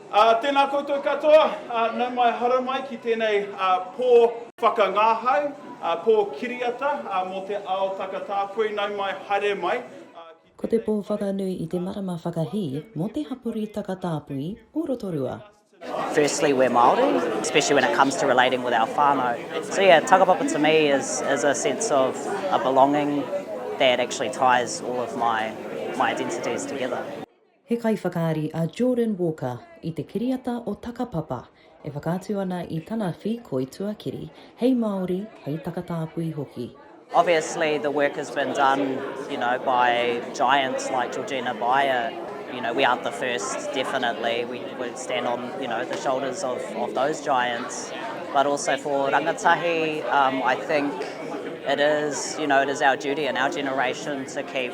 Ā, tēnā koutou katoa, ā, nau mai haramai ki tēnei, ā, pō whakangāhau, ā, pō kiriata, ā, mō te ao takatāpui, nau mai, haere mai, ā, ki Ko te pō whakanui i te marama whakahī mō te hapori takatāpui o Rotorua. Firstly we're Māori, especially when it comes to relating with our whānau. So yeah, tagapapa to me is is a sense of a belonging that actually ties all of my my identities together. He kaiwhakaari a Jordan Walker i te kiriata o Takapapa e whakaatu ana i tana whīkoi tuakiri hei Māori, hei takatāpui hoki. Obviously the work has been done you know by giants like Georgina Beyer, you know we aren't the first definitely, we we stand on you know the shoulders of of those giants but also for rangatahi um I think it is you know it is our duty and our generation to keep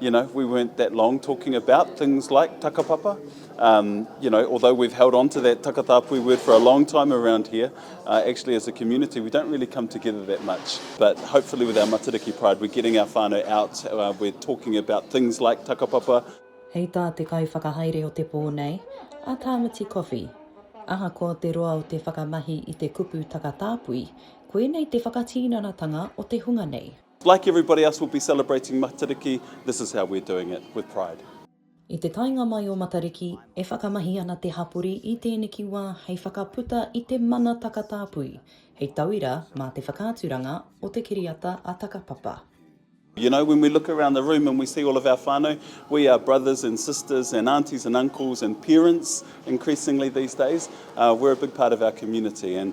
You know, we weren't that long talking about things like takapapa. Um, you know, although we've held on to that takatāpui word for a long time around here, uh, actually as a community we don't really come together that much. But hopefully with our Matariki Pride we're getting our whānau out, uh, we're talking about things like takapapa. Hei tā te kaiwhakahaere o te pō nei, a Tāmati Coffey, Ahakoa te roa o te whakamahi i te kupu takatāpui, koinei te whakatīnanatanga o te hunga nei. Like everybody else we'll be celebrating Matariki, this is how we're doing it, with pride. I te taenga mai o Matariki, e whakamahi ana te hapori i tēneki wā hei whakaputa i te mana takatāpui, hei tauira mā te whakaaturanga o te kiriata a Takapapa. You know, when we look around the room and we see all of our whānau, we are brothers and sisters and aunties and uncles and parents increasingly these days. We're a big part of our community and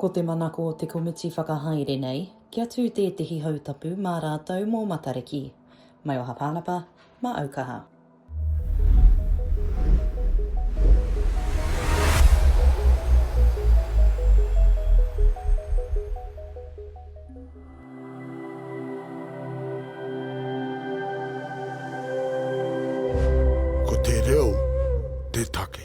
Ko te manako o te komiti whakahaere nei, kia tū tētehi hautapu mā rātou mō Matariki. Mai o Hapānapa, mā Aukaha. Ko te reo te take.